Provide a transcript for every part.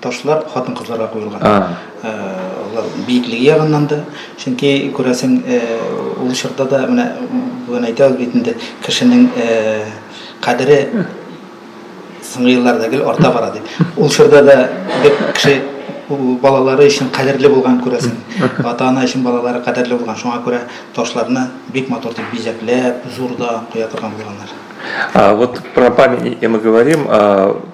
Ташлар хатын-кызларга куелган. Э, алар биеклеге ягыннан да, чөнки күрәсең, э, ул чорда да менә бүген әйтәбез бит инде, кешенең э, кадере соңгы елларда гел арта бара дип. Ул чорда да бер кеше балалары өчен кадерле булган күрәсең. Ата-ана өчен балалары кадерле булган. Шуңа күрә ташларны бик матур дип бизәкләп, зурда куя торган булганнар. А вот про памятники мы говорим, а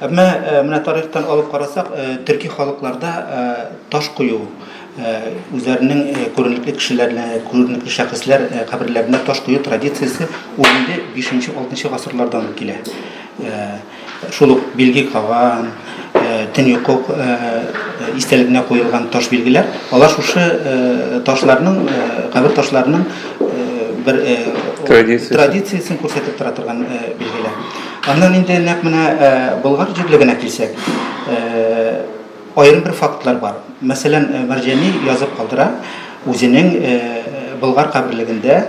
Ә менә, э, менә тарихтан алып карасак, э, төрки халыкларда э, таш кую, үзләренең күренекле кешеләрне, күренекле шәхесләр каберләренә таш кую традициясе 15-6 гасырлардан килә. Шул ук билги каган, төньяк истәлегенә куелган таш билгеләр, алар шушы ташларның, кабер ташларының бер традициясен күрсәтеп тора торган билгеләр. Аннан инде нәкъ менә Болгар җирлегенә килсәк, аерым бер фактлар бар. Мәсәлән, Мәрҗани язып калдыра, үзенең Болгар каберлегендә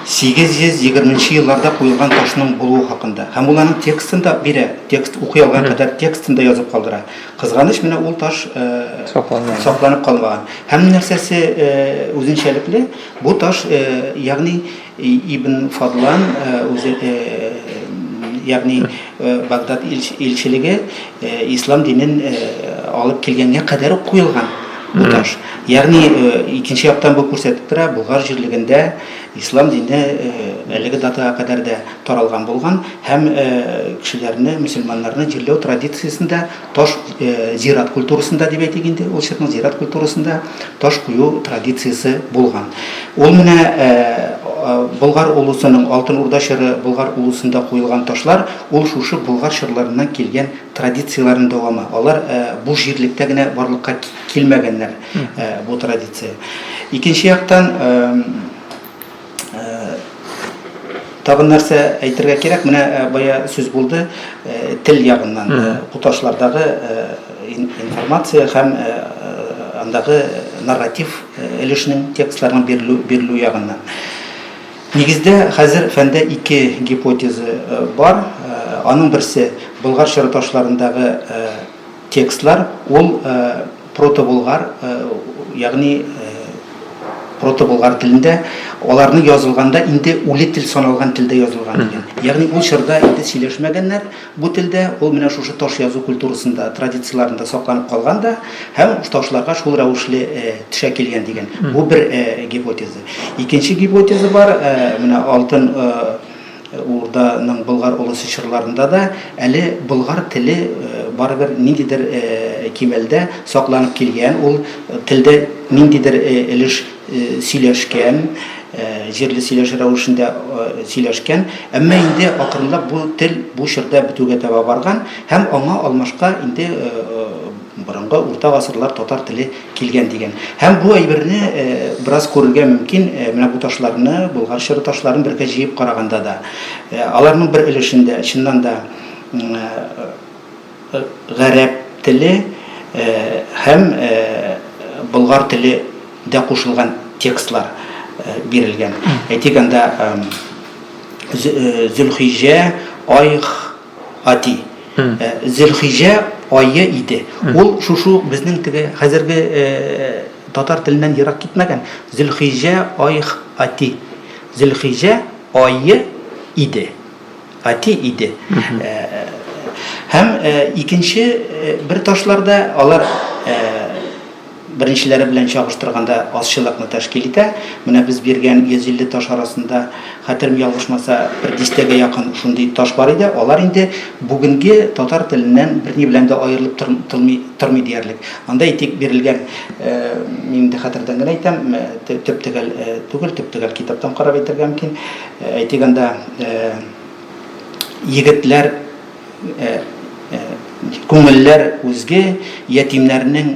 820 нче елларда куелган ташның булуы хакында. Һәм ул аның текстын да бирә, текст укый алган кадәр текстын да язып калдыра. Кызганыч, менә ул таш сакланмаган. Сакланып калмаган. Һәм нәрсәсе үзенчәлекле, бу таш, ягъни, Ибн Фадлан үзе, ягъни Багдад илчелеге ислам динен алып килгәнгә кадәр үк куелган бу таш. Ягъни икенче яктан бу күрсәтеп тора, Болгар җирлегендә ислам дине әлеге датага кадәр дә таралган булган һәм кешеләрне, мөселманнарны җирләү традициясендә таш зират культурасында дип әйтик инде, ул чирнең зират культурасында таш кую традициясе булган. Ул менә Болгар улусының Алтын Урда чоры Болгар улусында куелган ташлар, ул шушы Болгар чорларыннан килгән традицияләрнең дәвамы. Алар бу җирлектә генә барлыкка килмәгәннәр бу традиция. Икенче яктан, Табын нәрсә әйтергә кирәк, менә э, бая сүз булды э, тел ягыннан э, куташлардагы информация һәм андагы нарратив өлешнең текстларның бирелү бирелү ягыннан. Нигездә хәзер фәндә ике гипотеза бар. Аның берсе Болгар чорыташларындагы Текстлар ул протоболгар, ягъни протоболгар телендә, аларны язылганда инде үле тел саналган телдә язылган икән. Ягъни ул чорда инде сөйләшмәгәннәр бу телдә, ул менә шушы таш язу культурасында, традицияләрендә сакланып калган да һәм ташларга шул рәвешле төшә килгән дигән. Бу бер гипотеза. Икенче гипотеза бар, менә алтын Урданың Болгар олысы чорларында да әле болгар теле барыбер ниндидер кимәлдә сакланып килгән, ул телдә ниндидер өлеш сөйләшкән, җирле сөйләше рәвешендә сөйләшкән. Әмма инде акрынлап бу тел бу чорда бетүгә таба барган һәм аңа алмашка инде Борынгы урта гасырлар татар теле килгән дигән. Һәм бу әйберне бераз күрергә мөмкин, менә бу ташларны, Болгар чоры ташларын бергә җыеп караганда да. Аларның бер өлешендә, чыннан да, гарәп теле һәм болгар теле дә кушылган текстлар бирелгән. Әйтик, анда Зөлхиҗә, Айх, Гади. Э, Зөлхиҗә ае иде. Ул шушу безнең теге хәзерге э, татар теленнән ерак китмәгән Зөлхиҗә айх ати. Зөлхиҗә ае иде. Ати иде. Э, Һәм э, икенче э, бер ташларда алар э, Беренчеләре белән чагыштырганда азчылыкны тәшкил итә. Менә без биргән 150 таш арасында, хәтерем ялгышмаса, бер дистәгә якын шундый таш бар иде. Алар инде бүгенге татар теленнән берни белән дә аерылып тор, тылмый, тормый диярлек. Анда, әйтик, бирелгән, э, мин инде хәтердән генә әйтәм, э, тө, төп-төгәл э, түгел, төп-төгәл китаптан карап әйтергә мөмкин. Э, әйтик, анда, э, егетләр, күңелләр үзге, ятимнәрнең,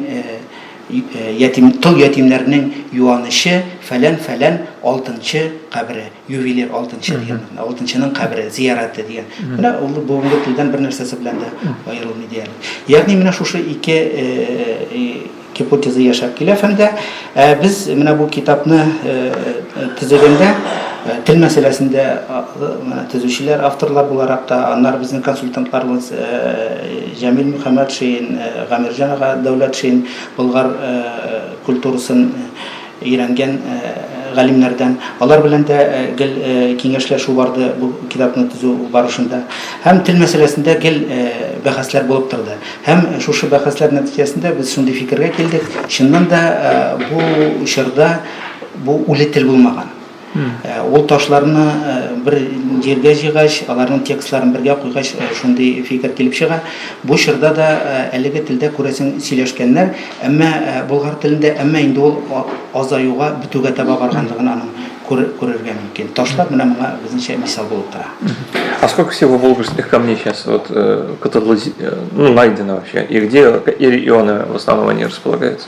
ятим, тол ятимнәрнең юанычы, фәлән, фәлән алтынчы кабере, ювелир алтынчы дигән, алтынчының кабере, зияраты дигән. Менә ул бүгенге телдән бер нәрсәсе белән дә аерылмый диярлек. Ягъни менә шушы ике гипотеза яшәп килә фәндә. Ә без менә бу китапны төзегәндә тел мәсьәләсендә төзүчеләр, авторлар буларак та, аннары безнең консультантларыбыз Җәмил Мөхәммәтшин, Гамирҗан ага Дәүләтшин, Болгар культурасын өйрәнгән галимнәрдән, алар белән дә гел киңәшләшү барды бу китапны төзү барышында. Һәм тел мәсьәләсендә гел бәхәсләр булып торды. Һәм шушы бәхәсләр нәтиҗәсендә без шундый фикергә килдек, чыннан да бу чорда бу үле тел булмаган. Ул ташларны бер җиргә җыйгач, аларның текстларын бергә куйгач, шундый фикер килеп чыга. Бу чорда да әлеге телдә, күрәсең, сөйләшкәннәр, әмма болгар телендә, әмма инде ул азаюга, бетүгә таба барганлыгын аның күрергә мөмкин. Ташлар менә моңа безнеңчә мисал булып тора. А сколько всего волжских камней сейчас вот кытырлы, ну, найдено вообще? И где и он в основном они располагаются?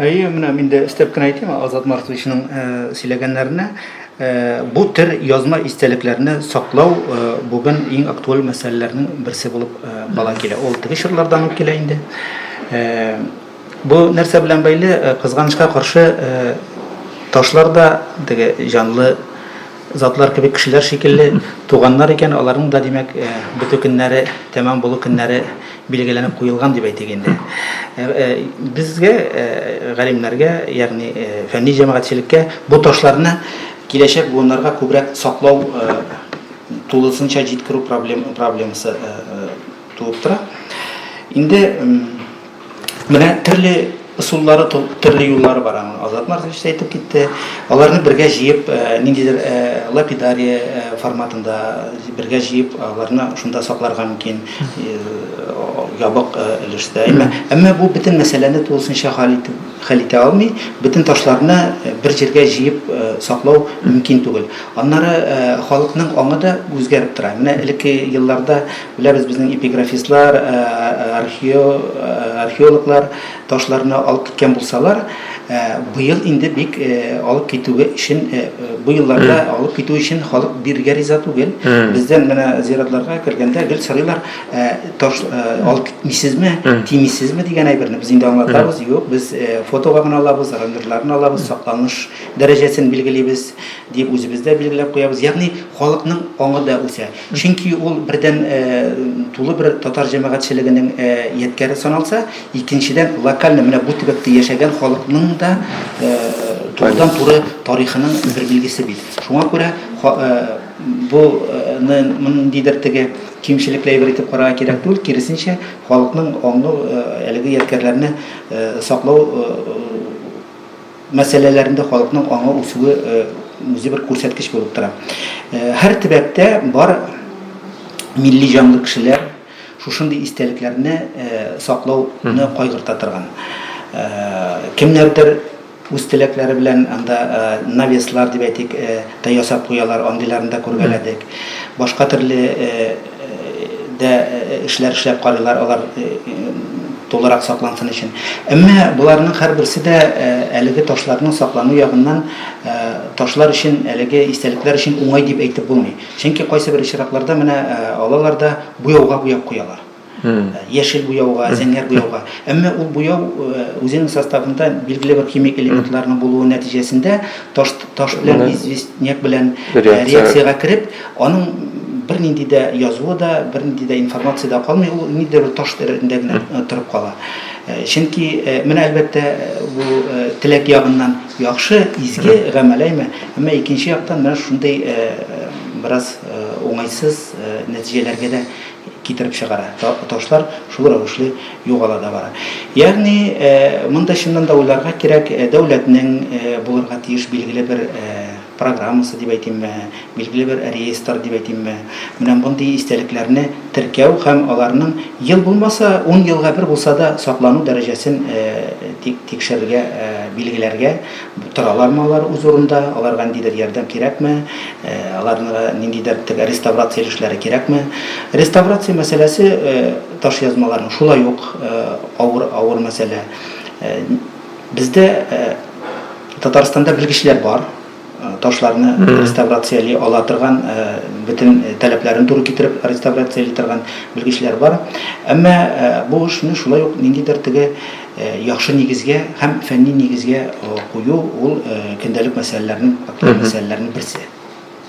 Әйе, менә мин дә өстәп кенә әйтим, Азат Марковичның э, сөйләгәннәренә. Э, бу төр язма истәлекләрне саклау э, бүген иң актуаль мәсьәләләрнең берсе булып кала килә. Ул теге чорлардан ук килә инде. Бу нәрсә белән бәйле, кызганычка каршы, ташлар да теге җанлы затлар кебек кешеләр шикелле туганнар икән, аларның да, димәк, э, бетү көннәре, тәмам булу көннәре билгеләнеп куелган дип әйтик инде. Э, э, безгә, галимнәргә, ягъни фәнни җәмәгатьчелеккә бу ташларны киләчәк буыннарга күбрәк саклау тулысынча җиткерү проблем, проблемасы Туып тора. Инде менә төрле ысуллары, төрле юллары бар аның. Азат Маркович та әйтеп китте. Аларны бергә җыеп, э, ниндидер э, лапидария э, форматында бергә җыеп, аларны шунда сакларга мөмкин ябык өлештә. Әмма бу бөтен мәсьәләне тулысынча хәл итеп хәл итә алмый, бөтен ташларны бер җиргә җыеп саклау мөмкин түгел. Аннары халыкның аңы да үзгәреп тора. Менә элекке елларда Беләбез, безнең эпиграфистлар, археологлар ташларны алып киткән булсалар, быел инде бик алып китүгә өчен, бу елларда алып китү өчен халык бирергә риза түгел. Бездән менә зиратларга кергәндә гел сорыйлар, таш алып китмисезме, тимисезме дигән әйберне. Без инде аңлатабыз, юк, без фотога гына алабыз, раверларны алабыз, сакланыш дәрәҗәсен билгелибез, дип үзебез дә билгеләп куябыз. Ягъни халыкның аңы да үсә. Чөнки ул, бердән, тулы бер татар җәмәгатьчелегенең ядкяре саналса, икенчедән, локальный менә бу төбәктә яшәгән халыкның да турыдан-туры тарихының бер билгесе бит. Шуңа күрә бу ны ниндидер теге кимчелекле әйбер итеп карарга кирәк түгел, киресенчә, халыкның аңы әлеге ядкярләрне саклау мәсьәләләрендә халыкның аңы үсүе үзе бер күрсәткеч булып тора. Һәр төбәктә бар милли җанлы кешеләр шушындый истәлекләрне саклауны кайгырта торган. Кемнәрдер үз теләкләре белән анда навеслар дип әйтик, ясап куялар, андыйларны да күргәләдек. Башка төрле дә эшләр эшләп карыйлар, алар тулырак саклансын өчен. Әмма боларның һәрберсе дә әлеге ташларның саклану ягыннан ташлар өчен, әлеге истәлекләр өчен уңай дип әйтеп булмый. Чөнки кайсыбер очракларда менә алалар да буяуга буяп куялар. Яшел буяуга, зәңгәр буяуга. Әмма ул буяу үзенең составында билгеле бер химик элементларның булуы нәтиҗәсендә таш белән известняк белән реакциягә кереп, Аның бернинди дә язуы да, бернинди дә информация дә калмый, ул ниндидер бер таш тәрәзәсендә генә э, торып кала. Э, чөнки э, менә әлбәттә бу теләк ягыннан яхшы, изге гамәл әйме, әмма икенче яктан менә шундый бераз уңайсыз нәтиҗәләргә дә китереп чыгара. Ташлар шул рәвешле югала да бара. Ягъни монда чыннан да уйларга кирәк, дәүләтнең булырга тиеш билгеле бер программасы дип әйтимме, билгеле бер реестр дип әйтимме, менә мондый истәлекләрне теркәү һәм аларның ел булмаса, ун елга бер булса да саклану дәрәҗәсен тикшерергә, билгеләргә, торалармы алар үз урында, аларга ниндидер ярдәм кирәкме, аларга ниндидер теге реставрация өлешләре кирәкме. Реставрация мәсьәләсе ташъязмаларның шулай ук авыр авыр мәсьәлә. Бездә Татарстанда белгечләр бар, ташларны реставрацияли ала торган, бөтен таләпләрен туры китереп реставрацияли торган белгечләр бар. Әмма бу эшне шулай ук ниндидер теге яхшы нигезгә һәм фәнни нигезгә кую ул көндәлек мәсьәләләрнең, мәсьәләләрнең берсе.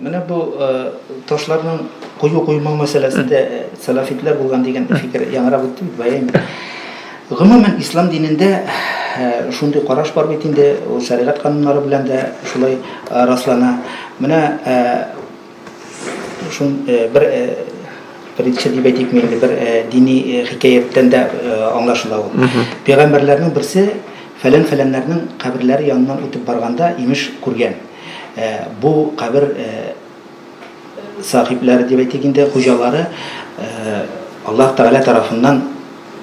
Менә бу ташларның кую куймау мәсьәләсендә сәлафитләр булган дигән фикер яңарак үтте бит бая инде. Гомумән ислам динендә шундый караш бар бит инде, ул шәригать кануннары белән дә шулай раслана. Менә шун бер притча дип әйтик инде, бер дини хикәяттән дә аңлашыла ул. Пәйгамбәрләрнең берсе фәлән-фәләннәрнең каберләре яныннан үтеп барганда имеш күргән. Ә бу кабер сахибләре дип әйтик инде, хуҗалары Аллаһ Тәгалә тарафыннан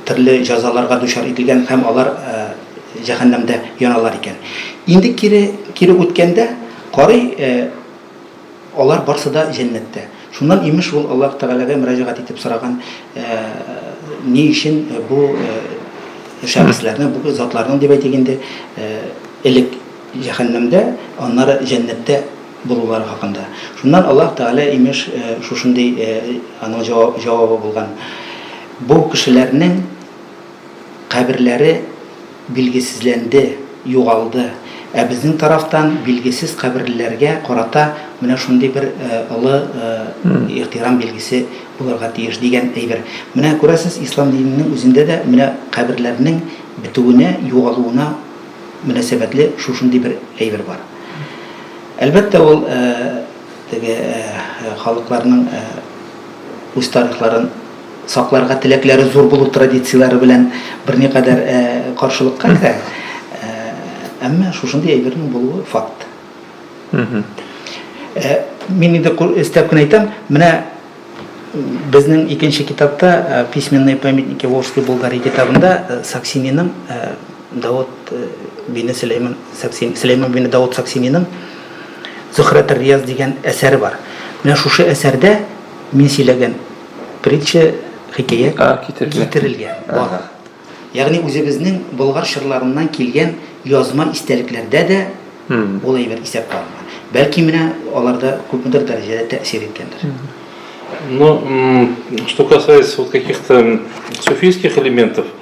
төрле җәзаларга дучар ителгән һәм алар җәһәннәмдә яналар икән. Инде кире кире үткәндә карый алар барсы да җәннәттә. Шуннан имеш ул Аллаһ Тәгаләгә мөрәҗәгать итеп сораган, ни өчен бу шәхесләрне, бу затларның дип әйтик инде, элек җәһәннәмдә, аннары җәннәттә булулары хакында. Шуннан Аллаһ Тәгалә, имеш, шушындый аның җавабы булган, Бу кешеләрнең каберләре билгесезләнде, югалды, ә безнең тарафтан билгесез каберлеләргә карата менә шундый бер олы ихтирам билгесе булырга тиеш, дигән әйбер. Менә күрәсез, ислам диненең үзендә дә менә каберләрнең бетүенә, югалуына мөнәсәбәтле шушындый бер әйбер бар. Әлбәттә, ул теге халыкларның үз тарихларын сакларга теләкләре зур булу традицияләре белән берникадәр каршылыкка керә. Әмма шушындый әйбернең булуы факт. Мин инде өстәп кенә әйтәм, менә безнең икенче китапта Письменные памятники Волжской Булгарии китабында Саксининың Давыт бине Сөләйман Саксин, Сөләйман бине Давыт Саксининың Зөхрәтер Рияз дигән әсәре бар. Менә шушы әсәрдә мин сөйләгән притча, хикәя китерелгән. Бар. Ягъни үзебезнең Болгар чорларыннан килгән язма истәлекләрдә дә ул әйбер исәпкә алынган. Бәлки менә аларда күпмедер дәрәҗәдә тәэсир иткәндер. Ну, что касается вот каких-то суфийских элементов,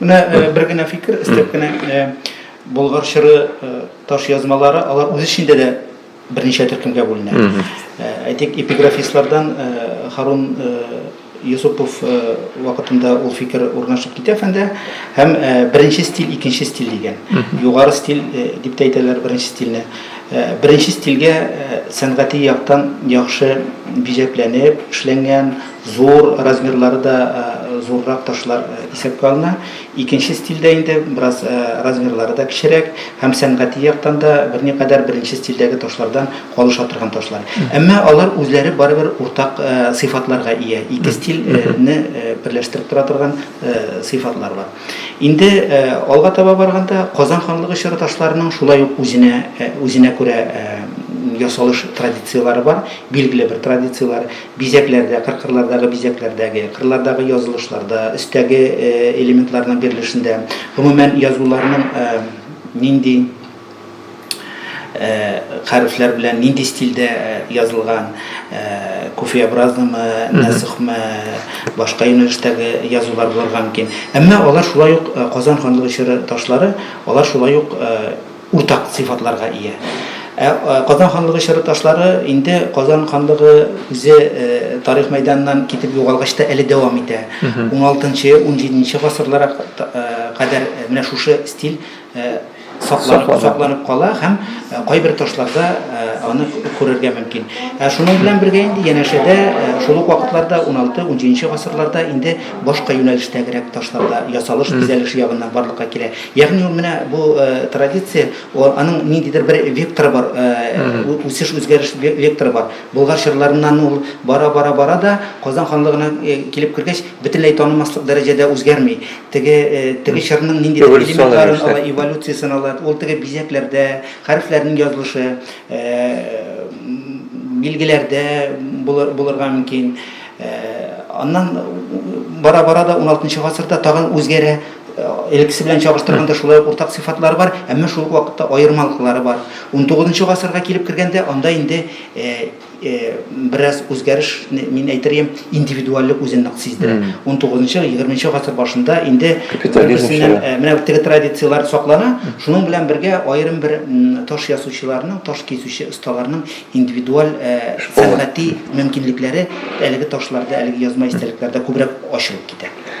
Менә э, бер генә фикер, истәп кенә э, Болгар чыры э, таш язмалары, алар үз эчендә дә берничә төркемгә бүленә. Әйтик, эпиграфистлардан Харун Юсупов э, вакытында ул фикер урнашып китә фәндә һәм э, беренче стиль икенче стиль дигән югары стиль э, дип тә әйтәләр беренче стильне беренче стильгә сәнгати яктан яхшы бизәкләнеп эшләнгән Зур размерлары да зуррак ташлар исәпкә алына. Икенче стильдә инде бераз размерлары да кечерәк һәм сәнгати яктан да берникадәр беренче стильдәге ташлардан калыша торган ташлар. Әмма алар үзләре барыбер уртак сыйфатларга ия. Ике стильне берләштереп тора торган сыйфатлар бар. Инде алга таба барганда, Казан ханлыгы чоры ташларының шулай ук үзенә үзенә күрә ясалыш традицияләре бар, билгеле бер традицияләр. Бизәкләрдә, кыркырлардагы бизәкләрдәге, кырлардагы язылышларда, өстәге элементларның бирелешендә, гомумән, язуларның нинди хәрефләр белән, нинди стильдә язылган, куфеобразнымы, нәсыхмы, башка юнәлештәге язулар булырга мөмкин. Әмма алар шулай ук Казан ханлыгы чоры ташлары, алар шулай ук уртак сыйфатларга ия. Ә Казан ханлыгы чоры ташлары инде Казан ханлыгы үзе тарих мәйданыннан китеп югалгач та әле дәвам итә. Уналтынчы, унҗиденче гасырларга кадәр менә шушы стиль сакланып кала һәм кайбер ташларда аны күрергә мөмкин. Ә шуның белән бергә инде янәшәдә шул ук вакытларда уналты, унҗиденче гасырларда инде башка юнәлештәгерәк ташлар да ясалыш-бизәлеш ягыннан барлыкка килә. Ягъни ул менә бу э, традиция, ул аның ниндидер бер векторы бар, э, ү- үсеш үзгәреш ве- векторы бар. Болгар чорларыннан ул бара бара бара да Казан ханлыгына э, килеп кергәч, бөтенләй танымаслык дәрәҗәдә үзгәрми. Теге э, теге чорның ниндидер Эволюцион элементларын рәвештә. ала, эволюциясен ала. Ул теге бизәкләрдә, хәрефләрнең язылышы, э, м, билгеләрдә булыр- булырга мөмкин. Э, Аннан бара-бара да 16 гасырда тагын үзгәрә. элеккесе белән чагыштырганда шулай ук уртак сыйфатлары бар, әмма шул ук вакытта аермалыклары бар. 19 гасырга килеп кергәндә анда инде э, э, бераз үзгәреш, мин әйтерем, индивидуальлек үзен нык сиздерә. 19-20 гасыр башында инде берсеннән э, менә теге традицияләр саклана, шуның белән бергә аерым бер таш ясучыларның, таш кисүче осталарның индивидуаль э, сәнгати мөмкинлекләре әлеге ташларда, әлеге язма истәлекләрдә күбрәк ачылып китә.